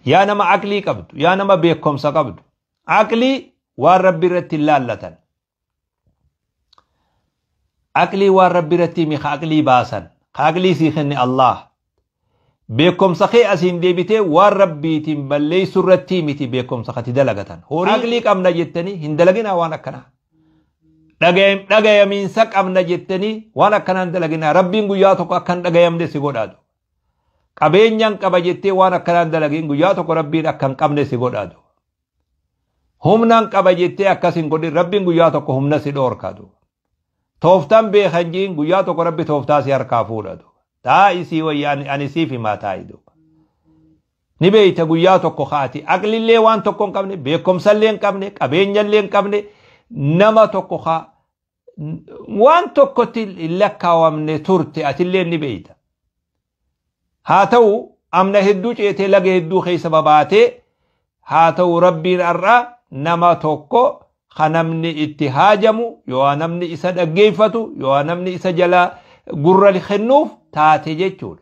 Yaa nama aqlii qabdu, yaa nama beekomsa qabdu. Aqlii waan rabbi irratti hin laallatan. Aqlii waan rabbi irratti himi ka aqlii baasan. Ka aqlii sii kenne Allah. Beekomsa kee asiin deebitee waan rabbiitiin balleessu irratti miti beekomsa kati dalagatan. Horii aqlii qabna jettanii hin dalaginaa waan akkanaa. Dhagayam- Dhagayamiinsa qabna jettanii waan akkanaa hin dalaginaa. Rabbiin guyyaa tokko akka hin dhagayamne si godhaatu. Qabeenyan qaba jettee waan akkanaan dalagin guyyaa tokko rabbiin akka hin qabne si godhaadu. Humnan qaba jettee akkas hin godhin rabbiin guyyaa tokko humna si dhoorkaadu. Tooftan beekan jiin guyyaa tokko rabbi tooftaa si harkaa fuudhadu. Taa isii wayya ani siif himaa taayidu. Ni beeyta guyyaa tokko kaati aqlillee waan tokko hin qabne beekumsallee hin qabne qabeenyallee hin qabne nama tokko kaa waan tokkotti hin lakkaawamne turte atillee ni beeyta. Haa ta'u amna hedduu ceetee laga hedduu keessa babaatee haa ta'u rabbiin har'a nama tokko ka namni itti haajamu yoo namni isa dhaggeeffatu yoo namni isa jalaa gurra kennuuf taate jechuudha.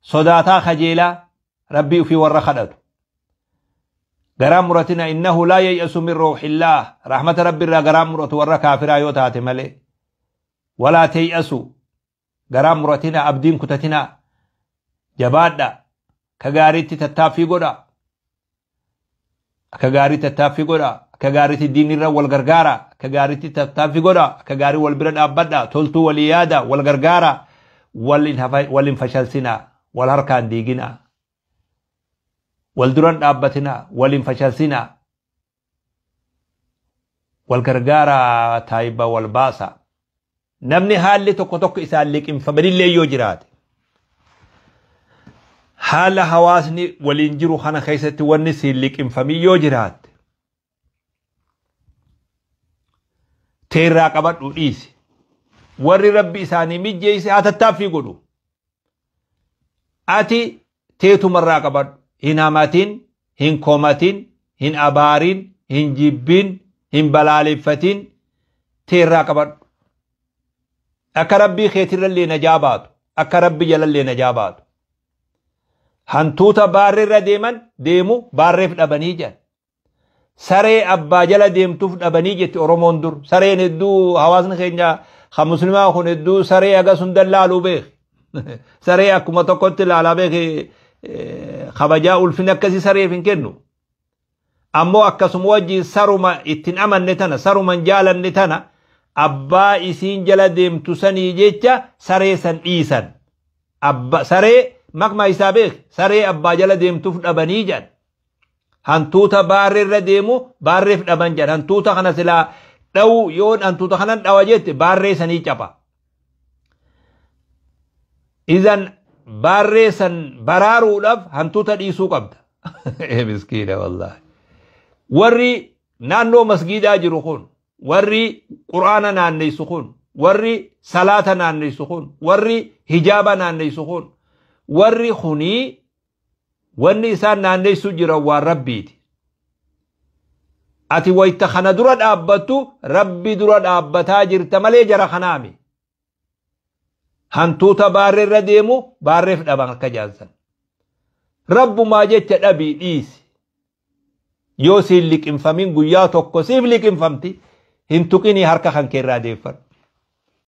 sodaataa kajeelaa rabbii ufii warra kadhatu garaan muratina innahu laa yay'asu min ruuxillaa rahmata rabbi irraa garaan muratu warra kaafiraa yoo taate malee walaa tay'asu garaan muratina abdiin kutatina jabaadha ka gaariitti tattaaffii godha Akka gaarii tattaaffii godha. Akka gaariitti diinirra wal gargaara. Akka gaariitti tattaaffii godha. Akka gaarii wal bira dhaabbadha. Toltuu walii yaada. Wal gargaara. Wal hin hafa- wal hin fashalsina. Wal harkaan diigina. Wal duran dhaabbatina. Wal hin fashalsina. Wal gargaara taayiba wal baasa. Namni haalli tokko tokko isaan liqimfamanillee yoo jiraate haala hawaasni waliin jiru kana keessatti wanni siin liqimfamii yoo jiraatte teerraa qabadhu dhiisi warri rabbi isaanii mijjeeyse haa tattaaffii godhu ati teetuma irraa qabadhu hin hamatin hin komatin hin abaarin hin jibbin hin balaaleffatin tee irraa qabadhu akka rabbii keetirrallee najaa baatu akka rabbi jalallee najaa baatu hantuuta baarree irra deeman deemu baarreef dhabanii jedhan saree abbaa jala deemtuuf dhabanii jetti oromoon dur sareen hedduu hawaasni keenya kan muslimaa kun hedduu saree hagas hunda laaluu beeke saree akkuma tokkotti laalaa beeke kabajaa ulfin akkasii sareef hin kennu ammoo akkasuma wajjin saruma ittiin amanne tana saruma hin jaalanne tana abbaa isiin jala deemtu sanii jecha saree san dhiisan abba saree makma isaa beek saree abbaa jala deemtuuf dhabanii jedhan Hantuuta baarree irra deemu baarreef dhaban jedhan. Hantuuta kana silaa dhawu yoo hantuuta kanan dhawa jette baarree sanii capa. Izan baarree san baraaruudhaaf hantuuta dhiisuu qabda. Miskiina wallaahi. Warri naannoo masgiidaa jiru kun warri quraana naanneessu kun warri salaata naanneessu kun warri hijaaba naanneessu kun warri kunii Wanni isaan naanneessuu jiran waan Rabbiiti. Ati wayta kana dura dhaabbattu Rabbi dura dhaabbataa jirta malee jara kanaami. Hantuuta baarree irra deemu baarreef dhaban akka jaansan. Rabbumaa jecha dhabii dhiisi. Yoo siin liqimfamin guyyaa tokko siif liqimfamti hin tuqinii harka kan keerraa deeffadhu.